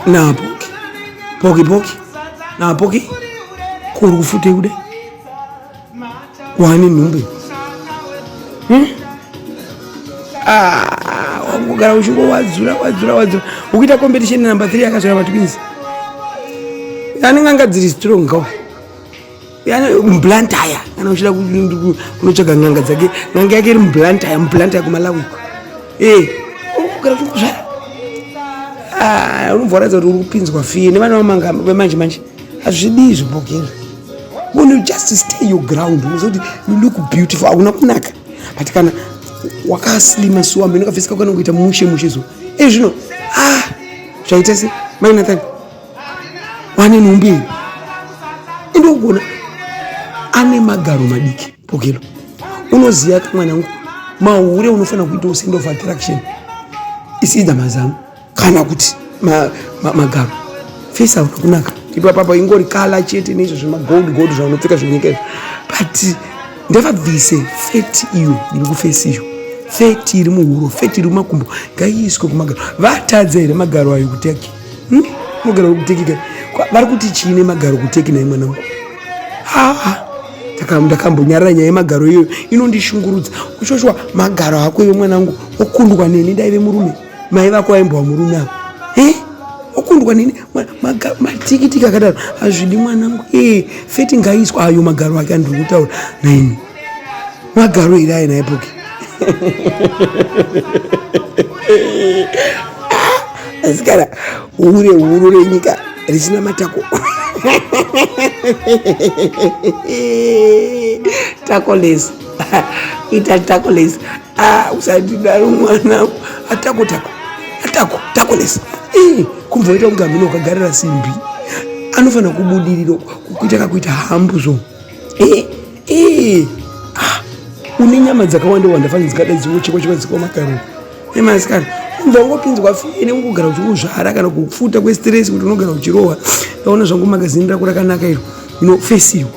na poki poki poki na poki kuri kufute kude wani nhumbi hmm? ah, wakugara uchingo wadzura wadzura wadzura ukuita competition number 3 akazvara vatwins anenge anga dziri strong kawa mblantaya kana uchida kunotsvaga n'anga dzake n'anga yake iri mblantaya mblantaya kumalawi ee eh, kana kuzvara ah, unovoratidza kuti uri kupinzwa fiye nevana vemanje manje hazvidii zvibhokera when you just stay your ground unozoti you look beautiful hauna kunaka but kana wakaslima suwa mheno kafisika kana kuita mushe mushe zuva ezvino ah zvaita se mainathan vane nhumbi iyi ende ugona ane magaro madiki pokelo unoziva ka mwana wangu mahure unofanira kuitawo send of attraction isiida mazamu kana kuti magaro ma, ma, ma fesa unokunaka ipa papa ingori kala chete neizvo zvemagold gold zvaunopfeka zvenyika izvo but ndavabvise feti iyo iri kufesi iyo feti iri muhuro feti iri mumakumbo ngaiiswe kumagaro vatadza here magaro ayo kuteki hmm? mogara uri kuteki ka vari kuti chii nemagaro kuteki naye mwanangu haa ndakambonyarara nyaya yemagaro iyoyo inondishungurudza uchoshwa magaro ako iwe mwanangu okundwa neni ndaive murume mai vako vaimbova murume avo eh? okundwa neni matikitiki akadaro hazvidi mwanangu e eh, feti ngaiswa ayo magaro ake andiri kutaura naini magaro iri aina epoki asikana hure huru renyika richina matako takoles ita takoles ah, usadidaro mwana atako tako atako takoles kumboita kunge amene ukagarira simbi anofanira kubudiriro kuita kakuita hambu zvo Ee, ah, une nyama dzakawanda wanda fani dzikada dziwo chekwa chekwa dzikwa makaroni. Ema asikana, unza ungopinzwa fini ungogara uchikuzvara kana kufuta kwestress kuti unogara uchirohwa. Ndaona zvangu magazini rako rakanaka iro. You know, face you.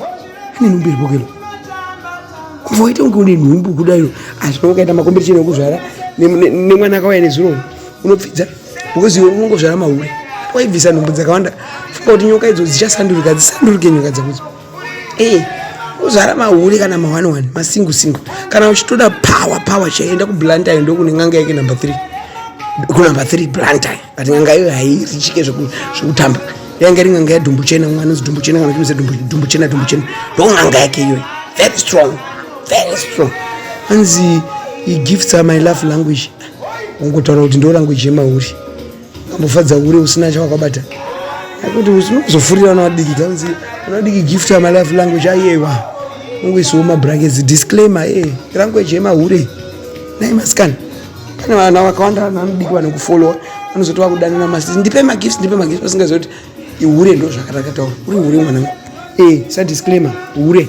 Ane nhumbu iri bokelo. Kuva waita kunge une nhumbu kuda iro. Asi ah, ukaita makombetition ekuzvara nemwana akauya nezuro unopfidza because iwe unongozvara mahure. Waibvisa nhumbu dzakawanda. Funga kuti nyoka idzo dzichasandurika, dzisandurike nyoka dzakudzo. Hey. Eh, kuzara mahuri kana mahwani wani masingu singu kana uchitoda power power chaienda kublantine ndokune n'anga yake number three kunumber three blantine but n'anga iyo hairichike zvekutamba yanga iri n'anga yadhumbu chena mwana anonzi dhumbu chena kana kuiza dhumbu chena dhumbu chena ndo n'anga yake iyoyo very strong very strong anzi he gifts are my love language ungotaura kuti ndo language yemahuri Kambofadza hure usina chawakabata. Akuti usinozofurira na wadiki kanzi una diki gift ya my life language ayewa. Ungu isu ma brackets disclaimer eh language yema hure. Nai maskana. Pane vana vakawanda vana diki vanokufollow anozoti wakudana na masi ndipe ma gifts ndipe ma gifts usingazoti ihure ndo zvakatakataura. Uri hure mwana. Eh sa disclaimer hure.